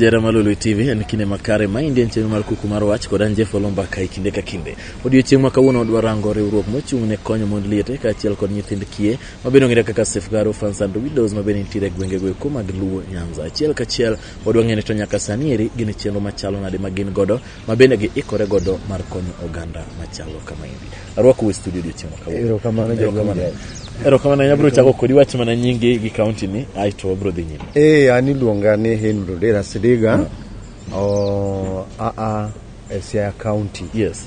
Jara Malulu TV en kinde makare ma indien chenro mar kuku mar wach kod an Jeff Olomba kai kinde ka kinde. Odiochieng' ma kawuono odwa rango riwruok mochung' ne konyo mond liete kaachiel kod nyithind kiye ma bende ong'ere kaka Safeguard Orphans and Widows ma bende nitiere e gwenge go eko mag Luo Nyanza. Achiel kachiel odwa ng'eyo ni to nyaka sani eri gin chenro machalo nade ma gin godo ma bende giikore godo mar konyo oganda machalo kama endi arwako we studio odiochieng' ma kawuono. Erokamano, Jaduong' Erokamano. Jael. erokamano abiro chako kodi wach mana nyingi gi kaunti ni aeto wabiro dhi nyime Eh, an iluonga ni Henry Odera Sidiga. Oh, a a e Siaya County. yes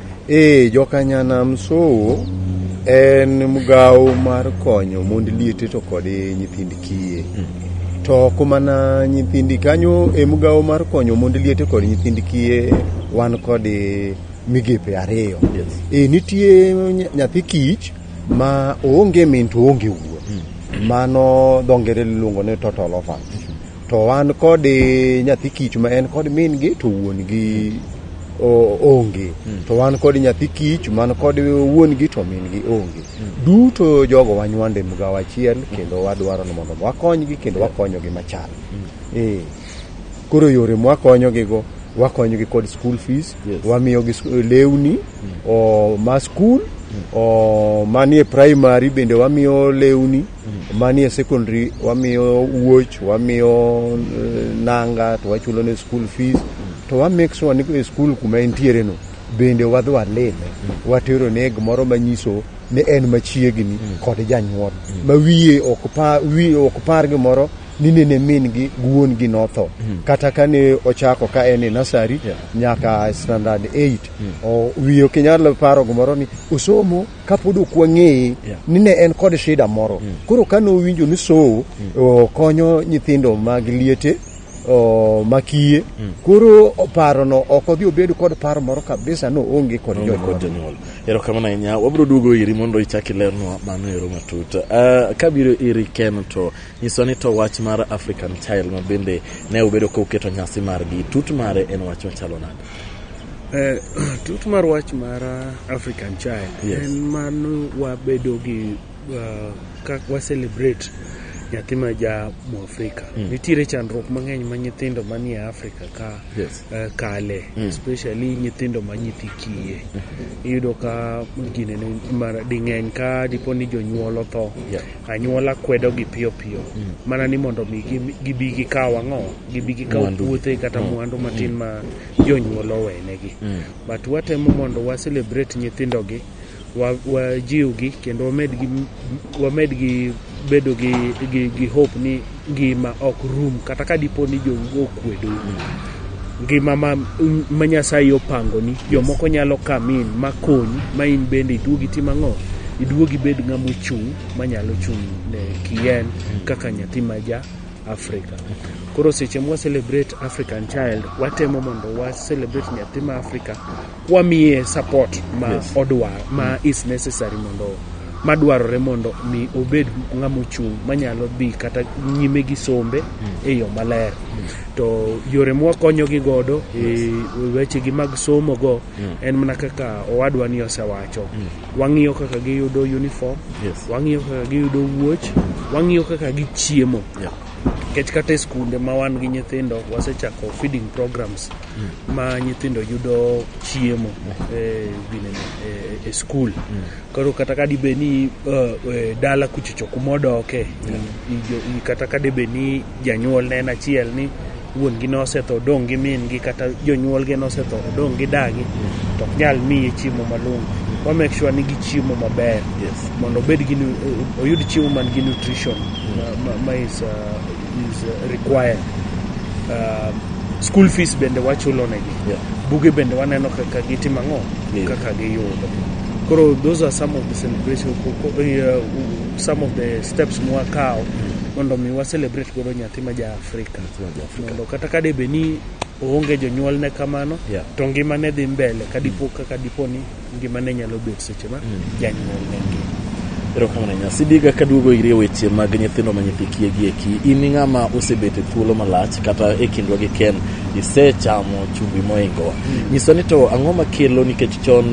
Ee, joka Nyanam Sowo en mgawo mar konyo mond liete to kod nyithind kiye. To ok mana nyithind kanyo e mgawo mar konyo mond liete kod nyithind kiye wan kod migepe ariyo. E, nitie ny- nyathi kich ma oonge min to oonge wuon. Mano dho ngere luongo ni total orphan. To wan kod eh, nyathi kich ma en kod min gi to wuon gi o- onge. To wan kod nyathi kich man kod wuon gi to min gi onge. Duto jogo wanywande mgawo achiel kendo wadwaro ni mondo wakonygi kendo wakonyogi machal. Eh. Koro yore mwakonyogigo wakonyogi kod school fees, Yes. wamiyogi sk- lewni o ma skul o manie primary bende wamiyo lewni manie secondary wamiyo wuoch wamiyo eh, nanga to wachulo ne school fees to wa make sure ni e school kuma entiere no bende wadhi walime watero ne gimoro manyiso ni en machiegni kod janyuol ma wiye ok pa wiye ok par gimoro ni nene min gi wuon gi notho kata kane ochako ka en e nasari nyaka standard 8 o wiye ok inyal paro gimoro ni osomo kapod ok wang'eye Yeah. ni ne en kod shida moro koro ka nowinjo ni sowo o, konyo nyithindo mag liete o, makiye koro parono ok odhi obed kod paro moro kabisa no onge kod Onge kod jonyuol jonyuol erokamano ahinya wabiro duogo iri mondo ichak ilernwa mano ero matut uh, kabiro iri ken to nyiswa ni to wach mar african child ma bende ne ubedo ka uketo nyasi margi tut mare en wach machalo nade Eh, tut mar wach mar uh, African Child yes. en mano wabedo gi uh, kak wa celebrate nyathi ma ja mu Afrika mm. nitiere chandruok mang'eny ma nyithindo manie Afrika ka yes. uh, kale mm. especially nyithindo ma nyithi kiye mm -hmm. iyudo ka gine ding'eny ka dipo ni jonyuol otho yeah. anyuola kwedo gi piyo piyo mm. mana ni mondo mi gibi gikaw ang'o gibi gikaw Mwandu. puothe kata Mm. mwandu matin Mm. ma jonyuol owenegi Mm. but watemo mondo wa celebrate nyithindogi wa- wajiwgi kendo wamedgi wamedgi bedo gi, gi, gi hope ni ngima ok rum kata ka dipo ni jou okwedo ngima ma, ma nyasaye opangoni jomoko nyalo kamin makonyi ma in bende iduogi tim ang'o iduogi bed ng'ama ochung' manyalo chung' ne kien kaka nyathi maja Africa. Koro seche mwa celebrate African child, watemo mondo wa celebrate nyathi ma Africa kwamiye support ma yes. odwa ma is necessary mondo madwarore mondo mi obed ng'ama ochung' manyalo dhi kata nyime gi sombe e yo maler to yore mwakonyogi godo e wechegi mag somo go en mana kaka owadwa ni osewacho Wang'iyo kaka giyudo uniform, Yes. wang'iyo kaka giyudo wuoch, wang'iyo kaka gichiemo. Yeah. Nikech kata e skunde ma wan gi nyithindo wasechako feeding programs ma nyithindo yudo chiemo e ginene, e- e skul. Koro kata ka dibe ni eh, eh, dala kuchocho kuma odoke, i- i- jo- i- kata ka dibe ni janyuol ne en achiel ni wuon-gi nosetho odong' gi min-gi kata jonyuolgi nosetho odong' gi dagi to ok nyal miye chiemo malong'o wa make sure ni gichiemo maber Yes. mondo obed gi nu- oyud chiemo man gi nutrition ma- ma- ma is, uh, is uh, required uh, school fees bende wachulo negi Yeah. buge bende waneno kaka gitimo ang'o Yeah. kaka giyudo koro those are some of the celebration ko- ko- eh, uh, some of the steps mwakawo mondo mi wa celebrate godo nyathi ma ja Afrika mondo kata ka debe ni oonge jonyuol ne kamano yeah. to ngima ne dhi mbele ka dipo mm. kaka dipo ni ngima ne nyalo bet seche ma mm. janyuol ne ngima erokamano ahinya sidiga kaduogo iri e weche mag nyithindo ma nyithi kiye gi eki in ng'ama osebet e thuolo malach kata e kindwa gi ken isechamo chumbi moingowa mm. nyisa ni to ang'o makelo nikech chon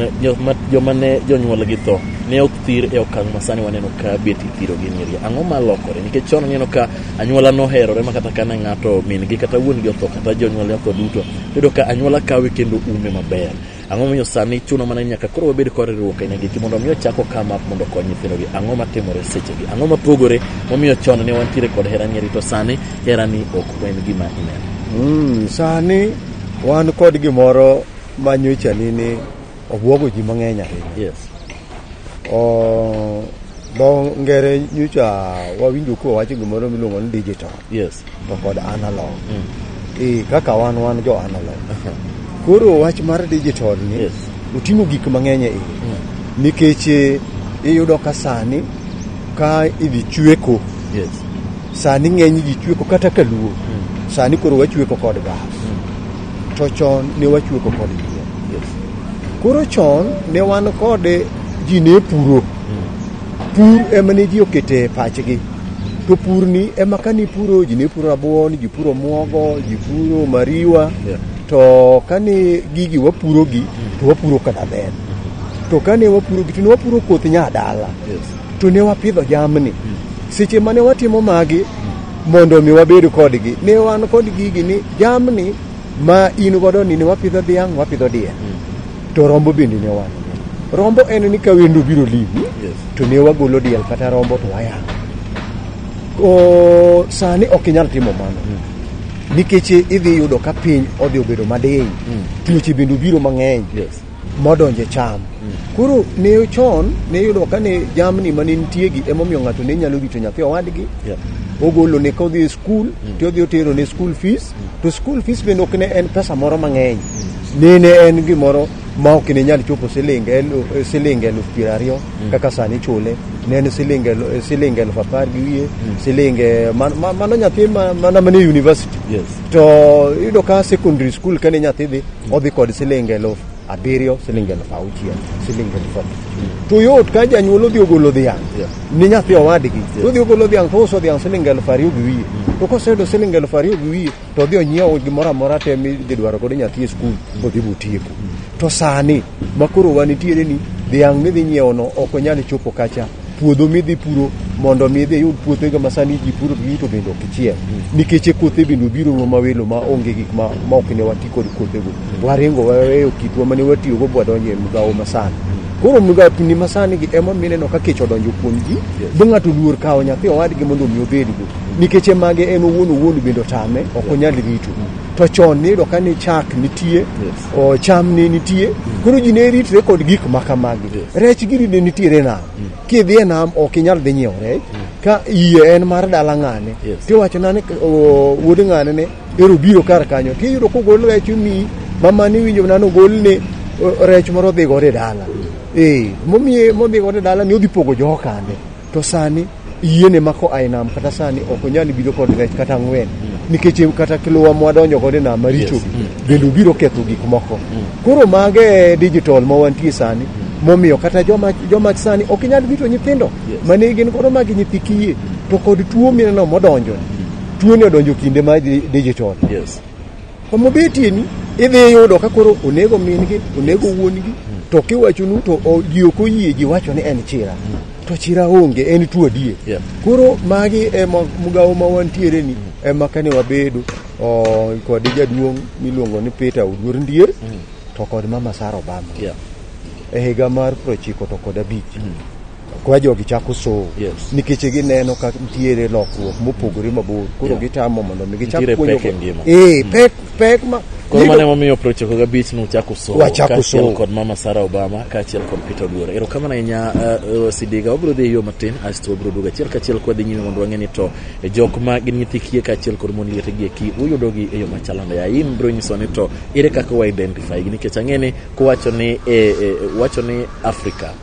joma ne jonyuol gi tho ne ok thir e okang' ma sani waneno ka bet ithirogi nyiri ang'o malokore nikech chon waneno ka anyuola noherore ma kata kane ng'ato min gi kata wuon gi otho kata jonyuol otho duto yudo ka anyuola kawe kendo ume maber ang'o miyo sani chuno mana nyaka koro wabed kod riwruok aina giki mondo mi ochako kama mondo okony nyithindogi ang'o matimore sechegi ang'o mapogore momiyo chon ne wantiere kod hera nyeri to sani herani ok en gima ineno mm, sani wan kod gimoro manyochani ni obwogo ji mang'eny ahinya yes. Oh, dho ngere nyocha wawinjo kuwa wacho gimoro miluongo ni digital yes to kod analog e kaka wan wan jo analog koro wach mar digital ni Yes. oting'o gik mang'eny e iye nikech eh, iyudo ka sani ka idhi chweko yes sani ng'eny ji chweko kata kaluo sani koro wachweko kod gas To chon ne wachueko kod yien. Yes. Koro chon ne wan kod ji ne puro. Pur ema ne ji okete pachgi. To purni ema ka nipuro ji ne puro rabuon, ji puro muogo, ji puro mariwa. Yeah. To kane gigi wapurogi to wapuro kata bel. To kane wapurogi to ne wapuro koth nyadala. Yes. to ne wapidho jamni seche mane watimo magi mondo mi wabed kodgi ne wan kod gigi ni jamni ma in godo ni ne wapidho dhiang' wapidho diel to rombo bende ne wan rombo en ni ka wendo biro limi Yes. to ne wagolo diel kata rombo to wayang'o O, sani ok inyal timo mano nikech idhi yudo ka piny odhi obedo madiny tuoche bende obiro mang'eny Yes. modonjo e cham. Koro ne chon ne iyudo ka ne jamni ma ne nitie gi emomiyo ng'ato ne nyalo rito nyathi owadgi Yeah. ogolo ne ka odhi e skul to odhi otero ne skul fees to skul fees bende ok ne en pesa moro mang'eny ne ne en gimoro ma ok ne nyal chopo siling elu- eh, siling eluf piero ariyo kaka sani chule ne en siling elu- eh, siling eluf apar gi wiye siling eh, man- ma- mano nyathi ma- mana mane university Yes. to iyudo ka secondary school kane nyathi dhi odhi kod siling eluf abiriyo siling eluf auchiel siling eluf abich to yot ka janyuol odhi ogolo dhiang' Yeah. ni nyathi owadgi to odhi ogolo dhiang' to ouso dhiang' siling eluf ariyo gi wiye to koseyudo siling eluf ariyo gi wiye to odhi onyiewo gimoro amora te midhi dwaro godo nyathi e skul bodhi botieko to sani makoro wanitiere ni dhiang' midhi nyiewono ok onyal chopo kacha puodho midhi puro mondo mi idhi iyud puothego ma sani ji puro gi to bende ok ichiel nikech kothe bende obiro ruo ma welo ma onge gik ma ma ok ne wati kod kothego waringo waweyo kitwa mane watiyogo bwadonjo e migawo masani koro migapni masani gi ema mineno ka kech odonjo kuom ji bo ng'ato luor kawo nyathi owadgi mondo omi obedgo nikech mage en owuon owuon bende otame ok onyal rito to chon niyudo ka ni chak nitie o, cham ne nitie koro ji ne ritre kod gik ma kamagi rech giri ne nitiere nam kidhi e nam ok inyal dhi nyiewo rech ka iye en mar dala ng'ane Yes. tiwacho nane o, wuod ng'ane ne ero biro kar kanyo tiyudo kogol rech omiyi mama ni winjo nano golne o, rech moro odhi godo e dala ee momiye modhi godo e dala ni odhi pogo jokane To sani yie ne mako a e nam kata sani ok onyal biro kod rech kata ang'wen mm. nikech e kata kiluwa mwadonjo kod e nam maricho yes. mm. bende obiro ketho gik moko mm. koro mage e digital ma wantie sani mm. momiyo kata joma, joma sani ok inyal bito nyithindo yes. mane gin koro magi nyithi kiye to kod tuo mineno modonjo mm. tuoni odonjo kinde ma digital yes. Kuma obetie ni idhi yudo ka koro onego min-gi, onego wuon-gi, to kiwachonu to o- ji ok oyie ji wacho ni en chira. To chira onge, en tuo adier. Yeah. Koro magi ema mugawo ma wantiere ni ema kane wabedo o, kod jaduong' miluongo ni Peter Oduor Ndier to kod Mama Sara Obama Yeah. e higa mar prochiko to kod abich kwa jogi chako sow Yes. nikech gineno ka nitiere lokruok mopogore mabor koro Yeah. gitamo mondo mi gichak Nitiere puonjo pek e ngima. eh pek pek ma Koro mane momiyo procheko gabich ni uchako somo Wachako kaachiel somo. kod Mama Sarah Obama kaachiel kod Peter Oduor. Erokamano ahinya uh, uh, Sidiga. Wabiro dhi e yo matin asto wabiro duogo achiel kaachiel kwadhi nyime mondo wang'e ni to e jok ma gin nyithi kiye kaachiel kod mon liete gi eki uyudogi e yo machalo nade. Aim biro nyiso ni to ere kaka wa identify gi nikech ang'e ni kuwacho ni eh, eh, wacho ni Africa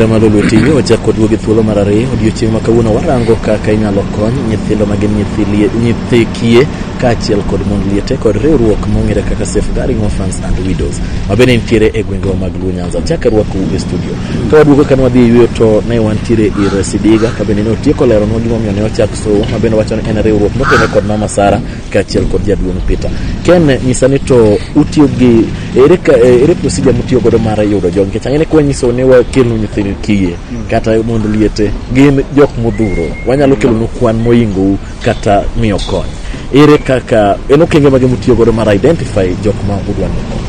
Ramado Lwetigi ochako oduogo gi thuolo mar ariyo odiochieng' ma kawuono warango kaka inyalo kony nyithindo ma gin nyithi lie- nyithi kiye kaachiel kod mond liete kod riwruok mong'ere kaka Safeguarding Orphans and Widows ma bende nitiere e gwengewa mag Luo Tanzania. Chak arwakou e studio. Ka waduogo kane wadhi e yueyo to ne wantiere ir Sidiga ka bende ne otieko leronwa gimomiyo ne ochak Sowo ma bende wacho ni en riwruok mokene kod Mama Sara kaachiel kod jaduong' Peter. Ken nyisa ni to utiyo gi ere ka- eh, ere procedure mutiyo godo mar yudo jogi nikech ang'e ni kwa nyiso ni wakelnu nyithindo kiye kata mondo liete gin jok modhuro wanyalo kelonu kwan moingou kata miyo kony ere kaka en okenge mage mutiyo godo mar identify jok ma udwa ni kony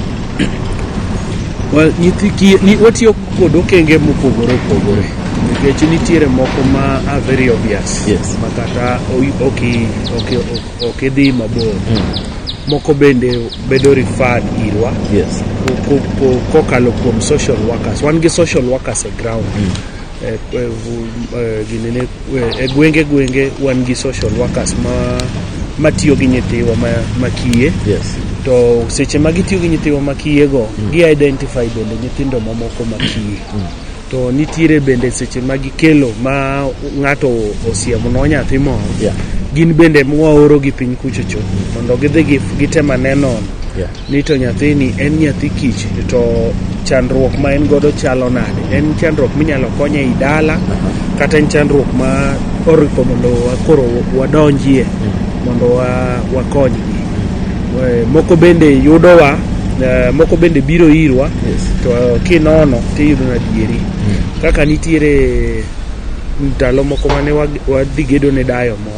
Well, nyithi kiye, ni, watiyo kod okenge mopogore opogore nikech nitiere moko ma are very obvious Yes. ma kata o- ok i- ok i- ok- ok idhi mabor moko bende bedo referred irwa yes ko- ko- ko- kokalo kuom social workers wan gi social workers e ground Eh, eh, vu- eh, ginene E gwenge gwenge wan gi social workers ma matiyo gi nyithiwa makiye yes. to seche ma gitiyo gi nyithiwa makiyego mm. gi identify bende nyithindo mamoko makiye mm. to nitiere bende seche ma gikelo ma ng'ato osiemno nyathi moro yeah. gin bende mwaorogi piny kuchocho mondo gidhi gitem aneno yeah. ni to nyathini en nyathi kich to chandruok ma en godo chalo nade en chandruok minyalo konye i dala kata en chandruok ma oripo mondo koro wadonjie mondo wakonygi eh, moko bende yudowa eh, moko bende biro irwa to kinono tiyudo nadieri hmm. kaka nitiere ndalo moko mane wadhi gedo ne dayo moko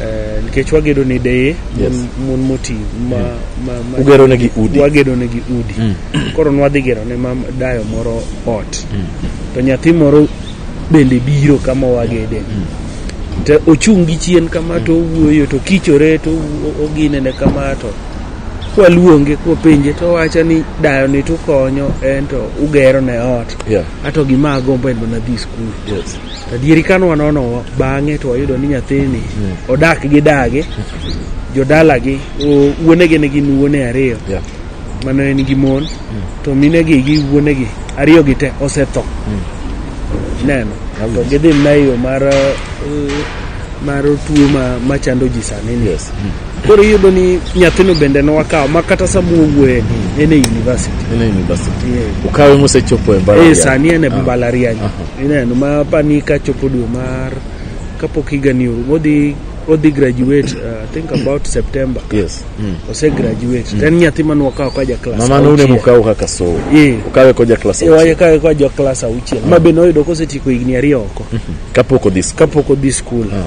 Eh, nikech wagedo ne deye mon- Yes. mon moti ma, ma, ma Ugero negi udi. wagedo negi udi koro nwadhi gero ne mam dayo moro ot to nyathi moro bende biro kama wagede to ochung' gi chien kama to owuoyo to kichore to o- oginene kama to kwaluonge kwapenje to wacha ni dayo ni tukonyo en to ugero ne ot Yeah. ato gima agombo en mana dhi skul Yes. Adieri ka nwanono bang'e to wayudo ni nyathini mm. odak gi dage, jodalagi, wuonege ne gin wuone ariyo. Yeah. Mano en gi mon, mm. to minegi gi wuonegi ariyo gi te osetho. Mm. Neno, to gidhi mna e yo mar uh, mar tuo ma, ma chando ji sani ni. Yes. Mm. Koro iyudo ni nyathino bende ne wakawo ma kata sama wuoye mm. en e university. En e university. Yeah. Ukawe mosechopo e mbalariany. Eh, sani en e ah. mbalariany. Uh -huh. ineno ma pani ka chopo dwe mar kapok higani oru odhi odhi graduate uh, I think about September yes mm. ose graduate mm. then nyathi mane wakawo ka ja class mama nune auchiel. mukawo kaka sowo Eh. ukawe koja klas Eh, waye kawe kwa jo class auchiel ma bende oyudo kosetieko higni ariyo oko kapok odhi skul kapok odhi skul Ah.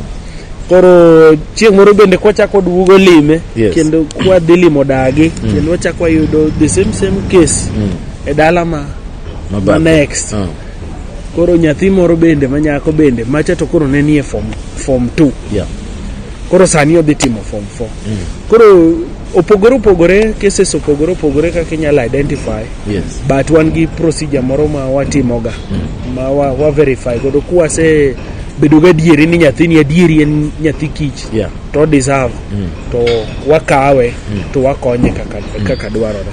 koro chieng' moro bende kwachako duogo lime Yes. kendo kwadhi limo dagi kendo wachako wayudo the same same case e dala ma ma mabadhe. next Ah. Koro nyathi moro bende ma nyako bende macha to koro ne nie form form 2. Yeah. Koro sani odhi timo form 4. Mm. Koro opogore opogore cases opogore opogore kaka inyalo identify yes. but wan gi procedure moro ma watimoga mm. ma wa, wa verify godo kwase bedo ga adieri ni nyathini adieri en nyathi kich yeah. to deserve mm. to wakawe mm. to wakonye kaka, mm. kaka dwarore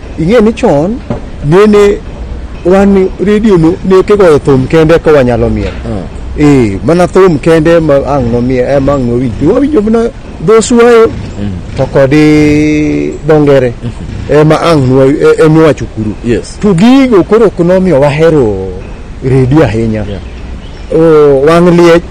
Ing'e ni chon nene wan redio no ne kigoyo thum kende ka wanyalo miel. Eh, mana thum kende ma ang' nomiel eh, ma ang' nowinj. To Wawinjo mana dho suayo to kod eh, dho ngere eh, ma ang' nwa- eh, em wacho kuro. Yes. To gigo koro ok nomiyo wahero redio ahinya. Yeah. Oh, wang' liech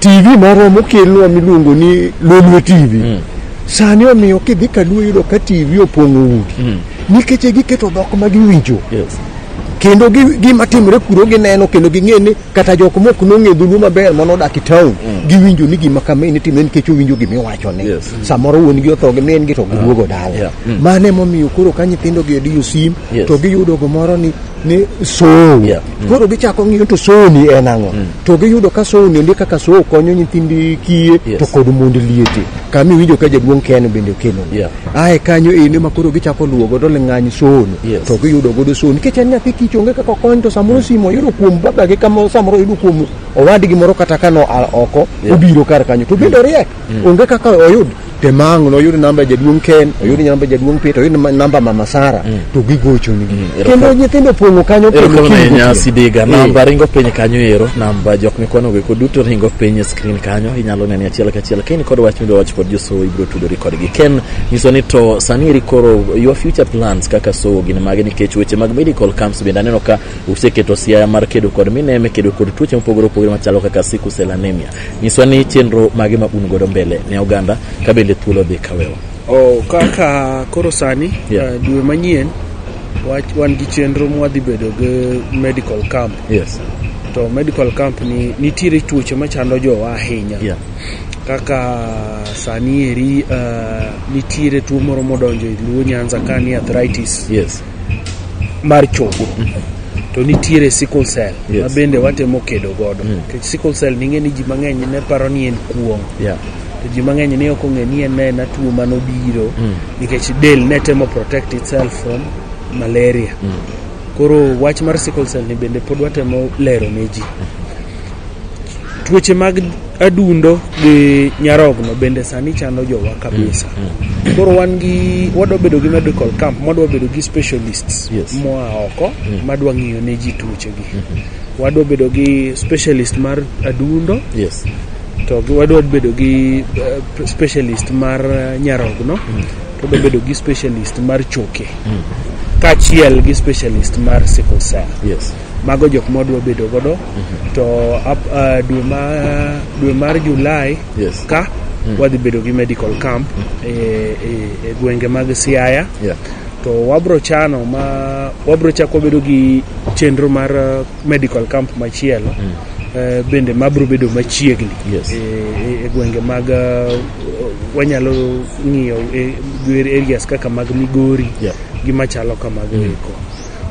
TV moro mokelnwa miluongo ni Lolwe TV. Mm. Sani omiyo kidhi kaluo yudo ka TV opong'o udi. Mm. Nikech giketo dhok ma giwinjo. Yes. Kendo gima timre kuro gineno kendo ging'e ni kata jok mok nong'e dhuluo maber mano odak e town mm. giwinjo ni gima kama ni timre nikech owinjo gima iwacho ne. Yes. Samoro wuon gi otho gi min gi to giduogo ah. dala. Yeah. Mm. Mane momiyo koro ka nyithindo gi odiyo sim yes. to giyudo gomoro ni ni sow yeah. mm. koro gichako ng'iyo to sow ni en ang'o mm. to giyudo ka sow ni ndi kaka sow konyo nyithindi kiye yes. to kod mond liete kama iwinjo ka jaduong' ken bende okelo yeah. ae kanyo ene ma koro gichako luwo godo ling'any sow ni yes. to giyudo godo sow nikech en nyathi kich onge kaka okony to samoro mm. simo oyudo kuom babagi kama samoro oyudo kuom owadgi moro kata kano oko yeah. obiro kar kanyo to bende oriek mm. onge kaka oyud Demang noyud namba jaduong' Ken, oyud namba jaduong' Peter, oyud namba- namba mama Sara to gigochoni. Kendo nyithindo pong'o kanyo pile erokamano kiny ahinya gotieno. sidiga Eh. namba ringo piny kanyo ero namba jok mikwanogo eko duto ringo piny e screen kanyo inyalo nene achiel kachiel kain kod wach midwa wach kod josowo ibiro tudori kodgi ken nyiso ni to sani eri koro your future plans kaka sowo gin mage nikech weche mag medical camps bende aneno ka useketo siaya mar kedo kod mineme kedo kod tuoche mopogore opogore machalo kaka sickle cell anemia Nyiswa ni chenro mage ma un godo mbele ne oganda ka bende thuolo dhi kawewa. Oh, kaka koro sani yeah. uh, dwe manyien wan gi chenro mwadhi bedo gi medical camp. Yes. To medical camp ni nitiere tuoche machando jowa ahinya. Yeah. Kaka sani eri uh, nitiere tuo moro modonjo e Luo Nyanza ka ni arthritis. Yes. mar chogo to nitiere sickle cell Yes. ma bende watemo kedo godo Mm. nikech sickle cell ning'e ni ji mang'eny ne paro ni en kuong' Yeah. to ji mang'eny ne ok ong'e ni en ne en atuo mane obiro Mm. nikech del ne temo protect itself from malaria Mm. koro wach mar sickle cell ni bende pod watemo lero ne ji Tuoche mag adundo gi nyarogno bende sani chando jowa kabisa. Mm, mm. Koro wan gi wadwa bedo gi medical camp, wadwa bedo gi specialists yes. moa oko mm. madwa ng'iyo ne ji tuoche gi. Mm -hmm. Wadwa bedo gi specialist mar adundo. Yes. To wadwa bedo gi uh, specialist mar eh, nyarogno. Mm. To wadwa bedo gi specialist mar choke. Mm. Kachiel gi specialist mar sickle cell. Yes. mago jok ma wadwa bedo godo to ap- ah, dwe ma dwe mar Julai Yes. ka wadhi bedo gi medical camp e, e, e gwenge mag Siaya Yeah. to wabro chano ma wabro chako bedo gi chenro mar eh, medical camp machielo eh, bende mabro bedo machiegni Yes. e, e- e gwenge mag eh, wanyalo ng'iyo e- areas kaka mag Migori Yeah. gi machalo kamago eko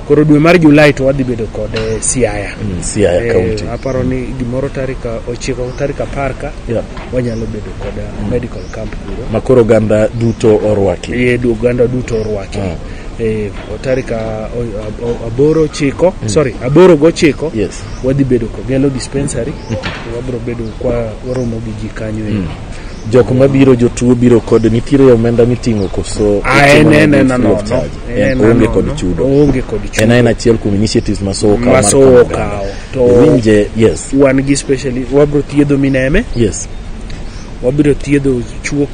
koro dwe mar Julai to wadhi bedo kod eh, Siaya Mm, Siaya Eh, County. aparo ni gimoro tarik ochiko tarik apar ka Yeah. wanyalo bedo kod eh, medical camp kuro Ma koro oganda duto orwaki. ye du- oganda duto orwaki Ah. Eh, o tarik a- o- o- aboro chiko sorry aboro gochiko Yes. wadhi bedo kogelo dispensary wabiro bedo kwa waromo gi ji kanyo e Jok mabiro jotuo biro kod nitiere omenda miting'o koso? Ah, en- en- en- no, no, no. en oonge kod chudo oonge kod chudo en en achiel kuom initiatives ma sowo kawo masowo kawo to winje yes wan gi specially wabro thiedho mineme yes wabiro thiedho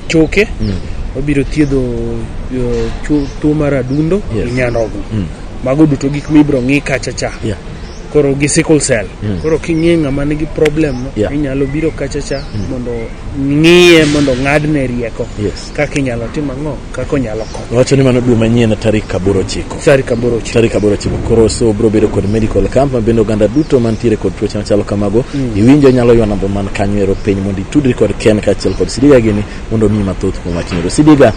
choke mm. wabiro thiedho uh, tuo mar adundo yes. nyanogo mm. mago duto gik mibro ng'i kacha cha yeah. koro gi sickle cell mm. koro king'e ng'ama nigi problem no yeah. inyalo biro kacha cha mm. mondo ng'iye mondo ng'adne rieko yes. Kaka inyalo tim ang'o? Kaka onyalo konyo. Wacho ni mano dwe manyien tarik aboro chiko. Tarik aboro chiko. Tarik aboro chiko. Koro so bro bedo kod medical camp ma bende oganda duto mantiere kod tuoche machalo kamago. Mm. Iwinjo nyalo ywa namba man kanyo ero piny mondo itudri kod Ken kaachiel kod Sidiga gini mondo omiyi mathoth kuom wachni. Ero Sidiga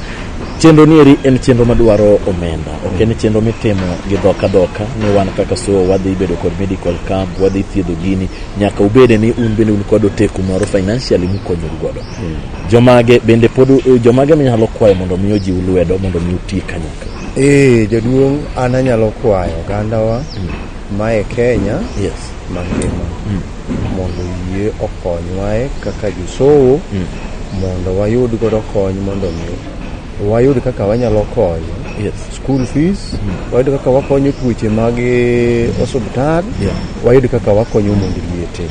chenro nieri en chenro madwaro omenda ok en chenro mitimo gi dhoka dhoka ni wan kaka so wadhi bedo kod medical camp wadhi thiedho gini nyaka ubede ni un bende un kod oteku moro financially mukonyoru godo Jomage bende pod jomage minyalo kwayo mondo mi ojiw lwedo mondo mi uti kanyakla? Ee, jaduong' an anyalo kwayo ogandawa ma e Kenya Yes. mangima mondo yie okonywae kaka josowo mondo wayud godo kony mondo mi wayud kaka wanyalo konyo Yes. school fees wayud kaka wakonyo tuoche mag eh, osuptal Yeah. wayud kaka wakonyo mondo liete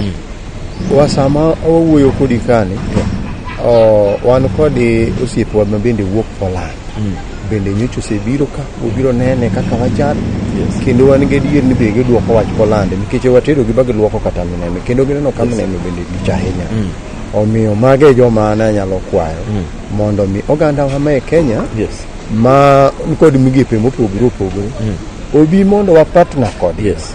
wa sama wawuoyo kodi kani o, wan kodi osiepwa ma bende wuok Poland bende nyocha osebiro ka obiro nene kaka wachal kendo wan gi adier ni be gidwoko wach Poland nikech watero gi bagidwoko kata minene kendo gineno ka minene bende lich ahinya omiyo mago e joma ne anyalo kwayo mondo mi oganda wa ma e Kenya Yes. ma nikod migepe mopogore opogore obi mondo wapatna kodgi Yes.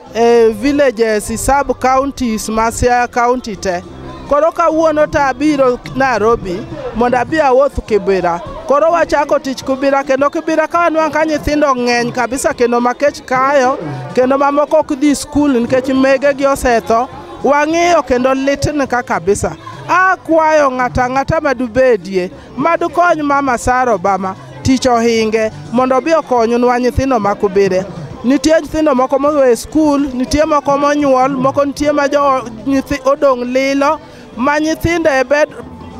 e villages e sub counties ma Siaya county te koro kawuono to abiro Nairobi mondo abi awuoth Kibira koro wachako tich Kibira kendo Kibira ka wanwang' ka nyithindo ng'eny kabisa kendo makech kayo kendo mamoko ok dhi skul nikech megegi osetho wang'iyo kendo litni ka kabisa akwayo ng'ata ng'ata madubedie Mad ukony Mama Sara Obama tich ohinge mondo obi okonynwa nyithindo ma kubire. Nitie nyithindo moko mowe skul, nitie moko monyuol, moko nitie ma jo nyithi odong' lilo ma nyithindo e bed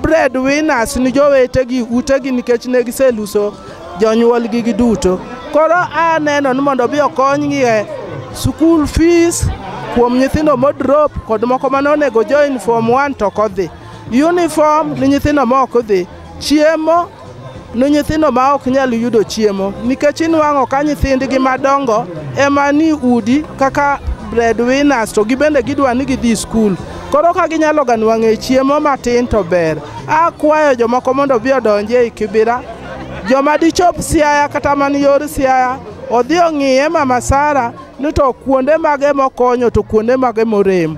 bread winners ni jowetegi utegi nikech ne giseluso jonyuolgi gi duto. Koro aneno ni mondo obi okonygi e school fees kuom nyithindo modrop kod moko mane onego join form one to ok odhi. Uniform ni nyithindo ma ok dhi. Chiemo ni nyithindo ma ok nyal yudo chiemo nikech inwang'o ka nyithindgi madongo ema ni udi kaka breadwinners to gibende gidwa ni gidhi skul koro ka ginyalo ga nwang'e chiemo matin to ber akwayo jomoko mondo obi odonji ei kibira joma dichop siaya kata man yor siaya odhi ong'iye mama sara ni to kuonde mage mokonyo to kuonde mage morem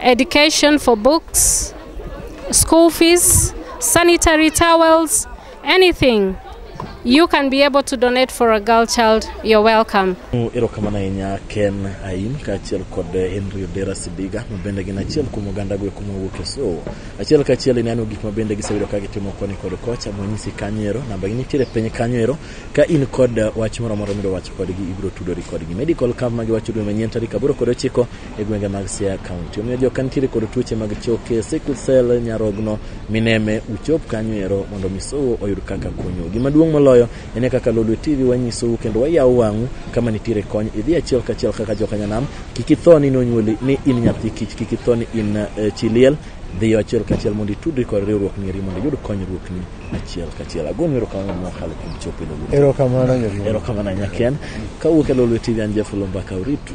education for books, school fees, sanitary towels, anything you can be able to donate for a girl child, you're welcome. Erokamano ahinya Ken Aim kaachiel kod Henry Odera Sibiga ma bende gin achiel kuom oganda go kuma wuok e so. Achiel kaachiel ineno gik ma bende giseyudo ka gitimo koni kod kocha mwanyisi kanyo ero, namba gi nitiere piny kanyo ero. Ka in kod wach moro amora midwa wacho kodgi, ibiro tudori kodgi. Medical camp ma giwacho dwe manyien tarik aboro kod ochiko e gwenge mag Siaya County. Omiyo joka nitiere kod tuoche mag choke, sickle cell, nyarogno, mineme, uchop kanyo ero mondo misou oyud kaka konyo. Gima duong' moloyo en e kaka Lolwe TV wanyisou kendo wayawo wang'u kama nitiere kony. Idhi achiel kachiel kaka joka nyanam, kik itho ni nonyuoli ni in nyathi kich, kik itho ni in eh, chi liel. Dhiyo achiel kachiel mondo itudri kod riwruok mieri mondo iyud konyruokni. achiel kachiel agoyo erokamano ma wakalo kuom chopo ilo erokamano erokamano nyaken kawuok e lolwe tv an jafulo mbaka uritu